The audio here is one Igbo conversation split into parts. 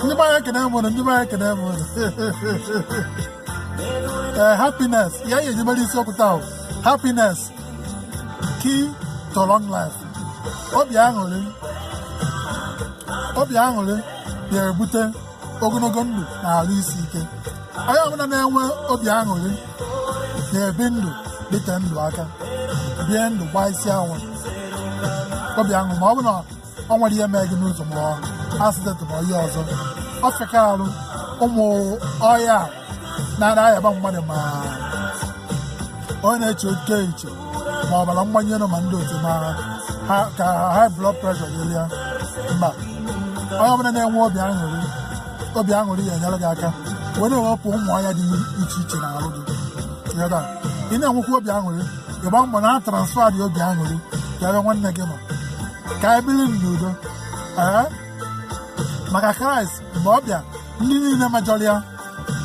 ndị be anyị ekene m ụnụ ndị be anyị ekene m ụnụ ee happiness ya ya anyị mere isiokwu taa happiness key to long life obi aṅụrị obi aṅụrị na-ebute ogologo ndụ na arụ isi ike onye ọbụla na-enwe obi aṅụrị na-ebi ndụ dịte ndụ aka bie ndụ gbaa isi awọ obi aṅụ ma ọ bụ na ọ nwere ihe mee gị n'ụzọ ma ọ accident ma ihe ọzọ ọ fịka arụ ụmụ ọya a na-ara ayaba mmadụ ma onye na-eche oke eche ma ọbara mgbanye elu ma ndị otu ma ha ka high blood pressure dịrị ya mba onye ọbụla na-enwe obi aṅụrị obi aṅụrị ya-enyere gị aka wee na-ewepụ ụmụ ọya dị iche iche na arụ gị ị ghọta ị na-enwekwa obi aṅụrị ị gbaa mbọ na-transfer the obi aṅụrị ka ebe nwanne gị nọ ka anyị biri n'udo ee maka kraịst mgbe ọ bịa ndị niile mejọrọ ya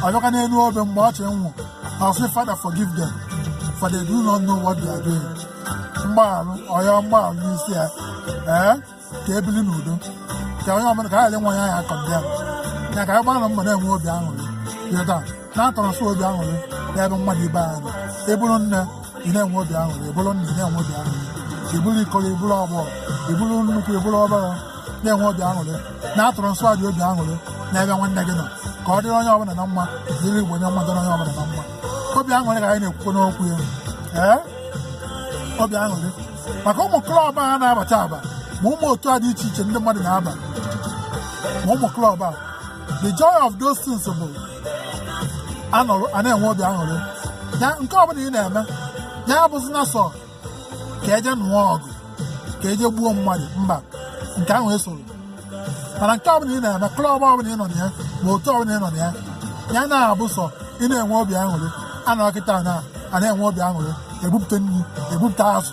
ọ bịakwa n'elu obe mgbe ọ chọrọ ịnwụ na ọ sị father forgive them for they do not know what they are doing mgbaghara ọ ya mgbaghara bụ isi ya ee ka e bili n'udo ka onye ọbụla ka anyị ghara ịnwe ya ya condemn ya ka anyị gbara mbọ na-enwe obi aṅụrị ị ghọta na-transfer obi aṅụrị n'ebe mmadụ ibe anyị nọ ị bụrụ nne ị na-enwe obi aṅụrị ị bụrụ nna ị na-enwe obi aṅụrị ị bụrụ ikoro ị bụrụ agbọọ ị bụrụ nnukwu ị bụrụ obere na-enwe obi aṅụrị na-transfer the obi aṅụrị n'ebe nwanne gị nọ ka ọ dịrị onye ọbụla na mma dịrị igbo na mma dịrị onye ọbụla na mma obi aṅụrị ka anyị na-ekwukwanụ okwu ya ee obi aṅụrị maka ụmụ club a na-aba aba ma ụmụ otu a dị iche iche ndị mmadụ na-aba ma ụmụ club a the joy of those things bụ a nọrọ a na-enwe obi aṅụrị ya nke ọbụla ị na-eme ya abụzi na sọ ka e je nụọ ọgụ ka e je gbuo mmadụ mba nke ahụ esoro mana nke ọbụla ị na-eme club ọbụla ị nọ na ya ma otu ọbụla ị nọ na ya ya na-abụ sọ ị na-enwe obi aṅụrị a nọrọ kịta na a na-enwe obi aṅụrị e bupụta nri e bupụta azụ